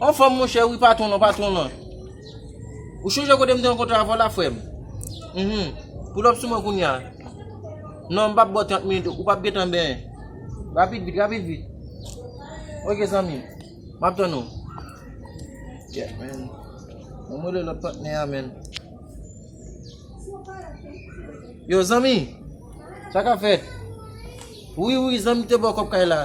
An fòm monchè wi patwon lan patwon lan Ou chonje kote m te rankontre avè w la frè m Uhmm Poul up sou mwen kounye a Non m p ap bo 30 minit ou p ap gentan benyen Rapid vit rapid vit Ok zanmi m M ap tann ou Yeah man Bon m rele lòt patnè a man Yo zanmi Sa k ap fèt Wi wi zanmi m te bo kòb kay la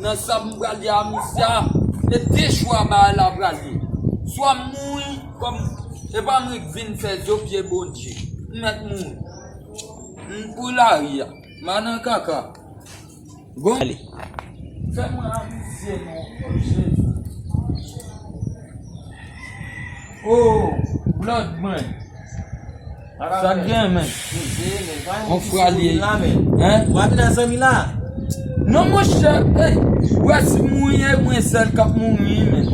Nan sa m pral di a misye a e de chwa bagay la pral ye swa m mouri kòm epa m ret vin fè zo pye bondye m mèt mouri m pou lari a m a nan kaka bon fè mwen avize non o jezi oo blòd mwen. Sak gen men? On fra li ye. Hein? Wa vin a zanmi la? Non monchè ey, ou wè si mouri e mwen sèl kap mouri wi menn.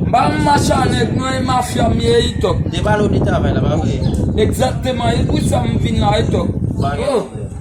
M pa yon machan nèg non e mafya m ye wi Tòg. Depale ou di travay la pa vre? Egzakteman e pou sa m vin la wi Tòg. Ou pa gen pwoblèm.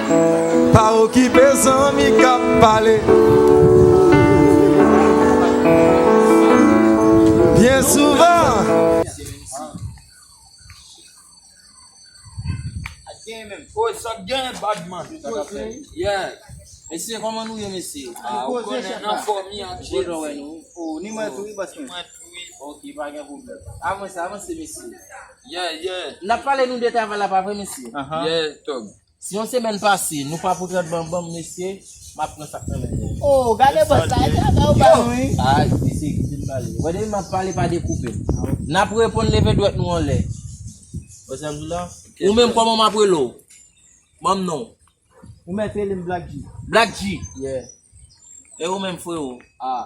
Pa okipe zanmi kap pale. Byen souvan. Si yon semèn pase nou pa pote lòt ban banm mesye map pran sak nan men nou. Oh gade boss la e travay ou bay wi. Aah mesye kite m pale. Wè depi map pale pa dekoupe m. Nap reponn leve dwèt nou anlè. Wè sa m di la? Ou menm kòman map rele w? Banm non w. Ou mèt rele m Black-G. Black-G? Yeah. E ou menm freo? Aah.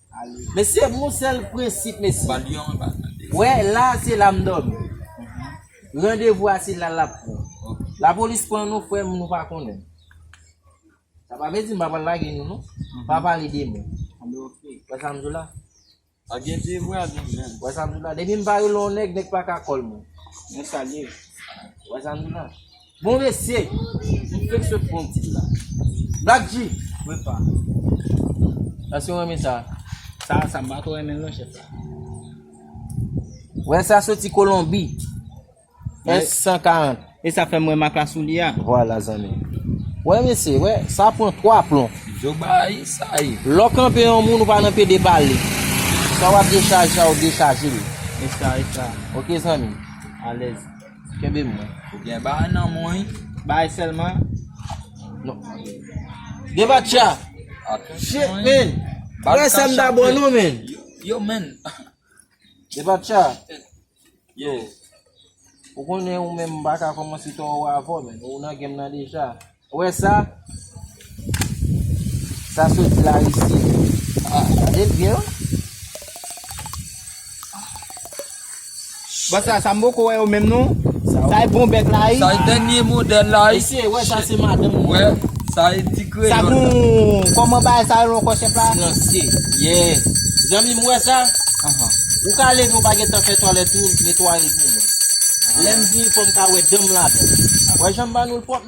Mesye m yon sèl prensip mesye wè la se la m dòmi randevou a se la lap pran lapolis pran nou frè m nou pa konnen sa pa vle di m pa pral lage nou non m pa pale de mwen wè sa m di w la wè sa m di w la depi m pa rele yon nèg nèg pa ka kòl mwen wè sa m di w la Bon mesye! M fek sot pran yon ti dlo la. Black G! Wi pa. Eske w renmen sa? Sa a sa, m pa twò renmen l non chèf la. Wè sa soti Kolonbi. S 140. E sa fè m wè mak la sou li a. Vwala zanmi. Wè mesye, wè, sa pran 3 plon. Yo bay sa ye. Lè w kanpe yon moun ou pa nan pede pa li. Sa w ap dechaje a ou dechaje li. E sa, e sa. Ok zanmi. Alèz. Kenbe mwen. Ou gen bagay nan men w wi. Bay selman. Gen batya. Shit men. Bagay sa m ta bon non men. Yo men. Gen batya. Yo. Ou konnen ou men m baka komanse to ou avon men. Ou nan game nan deja. Ou wè sa? Sa soti la risi. Gade l byen wi. Bon sa sa m poko wè yo menm non. Sa e bon bèk la wi. Sa e dènye modèl la wi. Mesye wè sa se madanm mwen. Wè sa e ti kreyòl la. Sa gon kòman bagay sa rele ankò chèf la? Silansye. Yes. Zanmi m wè sa? Ou ka leve ou pa gen tan fè twalèt ou netwaye l pou mwen. Lè m vini fò m ka wè dan m ladan l. Wè jan m ba nou l pwòp.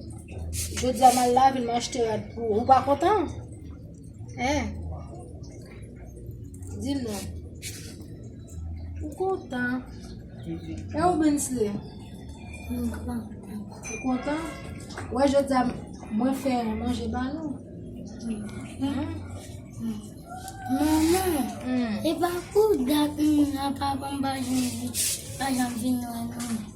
Jodi a mal la vin manj te rad pou ou pa kontan? Hein? Di m non. Ou kontan? E ou Bensley? Mwen kontan. Ou kontan? Wè jodi a mwen fè manje ba nou. Maman, e pa kou dat mwen a pa bon pa janm vin wè nou.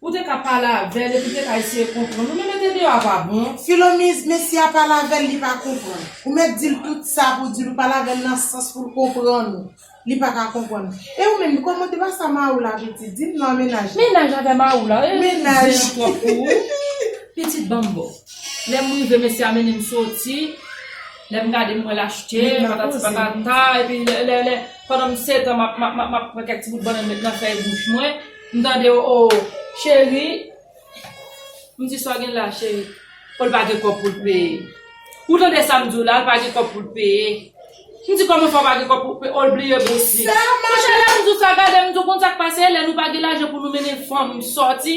Ou te ka pale avèl epi te ka eseye konprann ou men mete deyò a pa bon. Filomiz, mesye a pale avèl li pa konprann. Ou mèt dil tout sa pou dil ou pale avèl nan sans poul konprann ou. Li pa ka konprann ou. E ou menm kòman te pa sa Maroula a vle di? Dim non mennaj la. Mennaj avè Maroula e. Mennaj. Zen an twòp pou ou. Pitit banm bo. Lèm rive mesye a mennem soti, lèm gade m wè l achte patati patata epi lè lè pandan m setan map map map pran kèk ti bout bannann met nan fèy bouch mwen. M tande w oo cheri M di sa w gen la cheri O l pa gen kòb pou l peye Ou tande sa m di w la l pa gen kòb pou l peye M di kòman sa w pa gen kòb pou w peye O l bliye bous li Monchè lè m di w sa gade m di w konn sa k pase lè nou pa gen lajan pou nou mennen fanm sòti.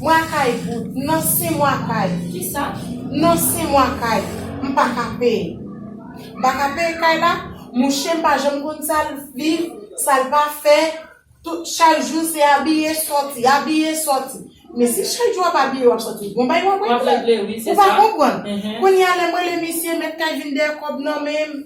Mwa kay bout nan sen mwa kay. Kisa? Nan sen mwa kay. M pa ka peye. M pa ka peye kay la. Mouche m pa janm konn sa l viv, sa l pa fè. Tout, chak jou se abiye, sòti, abiye, sòti. Men si chak jou w ap abiye, w ap sòti, gon bagay w ap regle. W ap regle wi, se sa. Ou pa konprann. Kounye a lè m rele misye, mèt kay vin dèyè kòb nan men m.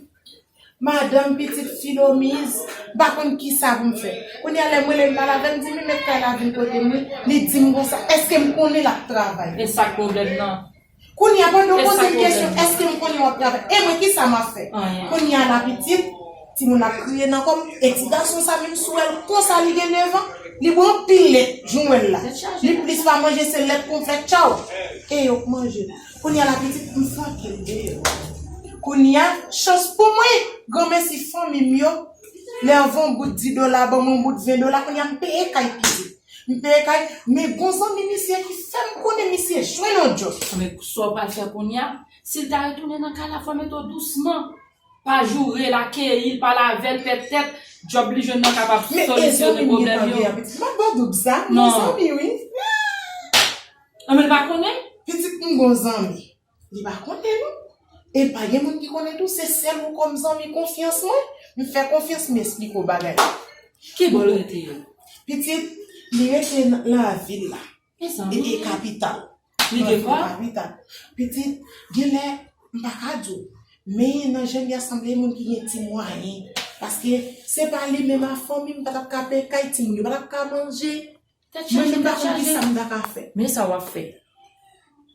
Madanm pitit Filomiz, m pa konn ki sa pou m fè. Kounye a lè m rele l pa lave, m di li met kay la vin kote mwen, li di m konsa, èske m konnen l ap travay? E sa k pwoblèm nan? Kounye a pandan w poze m kesyon èske m konnen w ap travay, e mwen ki sa m ap fè? Anyen. Kounye a la pitit, timoun ap kriye nan kò m, e ti gason sa menm si w wè l konsa li gen nevan, li bwè anpil lèt, jan w wè l la. Li plis pa manje se lèt konplè tchaw, e yo k manje. Kounya la pitit m sa ke l ye yo. Kounya chans pou mwen granmèsi fanmi m yo lè yo voun bout di dola ban m yon bout ven dola kounya m peye kay pitit m peye kay men gon zanmi misye ki fè m konnen misye jwenn yon djòb sou. Men sa w pral fè kounya si l ta retounen nan kay la fò w mete w dousman pa joure l akeyi l pa lave l pètèt djòb li jwenn nan kapab solisyone pwoblèm yo. Men e zanmi m gen pa gen a pitit m ap ban doub sa m gon zanmi wi. Anben l pa konnen? Pitit m gon zanmi. Li pa konnen non. E pa gen moun ki konnen tou, se sèl ou kòm zanmi konfyans mwen. M fè konfyans m esplike w bagay yo. Ki bò l rete yo? Pitit, li rete nan lavil la. E sa m. E kapital. Li gen kò? Kapital. Pitit, gen lè, m pa ka di w. Men nan je l ya sanble moun ki gen ti mwayen. Paske se pa li menm a fanmi m pa t ap ka peye kay timoun yo, pa t ap ka manje. Tèt chaje tèt chaje. Men sa wap fè.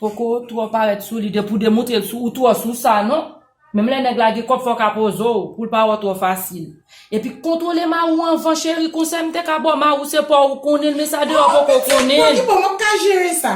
Poko twò parèt sou li depi w demontre l sou ou twò sou sa non. Menm lè nèg la gen kòb fò w ka poze w pou l pa wè w twò fasil. Epi kontwole ma ou anvan cheri konsèy m te ka ba w ma ou se paw ou konnen l men sa deyò poko konnen l. Bon ki bon map ka jere sa.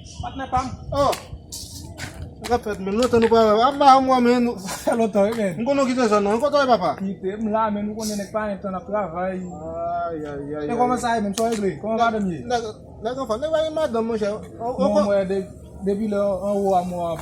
Patnè pa m. Oh! Sa k ap fèt menm? Lontan nou pa wè. Ap ba m wè men nou. Sa fè lontan wi men. M konnen w kite zòn nan. Kote w ye papa? Kite. M la men nou konnen nèg pa gen tan n ap travay. Ayayayay. E kòman sa ye menm? Sa w regle? Kòman madanm ye? Nèg anfòm. Nèg pa gen madanm monchè. Bon mwen depi lè anwo a mwen ap.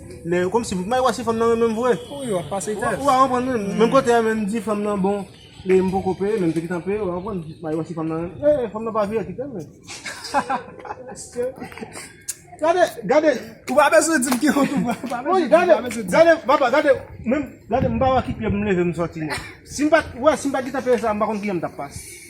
Lè yo komsi mpa wè si fanm nan renmenm vre. Wi wap pase tès. Ou pa konprann menm. Menm kote a menm di fanm nan bon e m poko peye menm te gentan peye wa konprann. Mpa wè si fanm nan renmenm. E fanm nan pa vye kite m menm. Gade gade ou pa bezwen dim ki kote ou pral pa bezwen dim. Wi gade gade papa gade menm gade mpa wè ki pyè pou m leve m soti non. Sim pat wè sim pat gentan peye sa mpa konn ki jan m tap pase.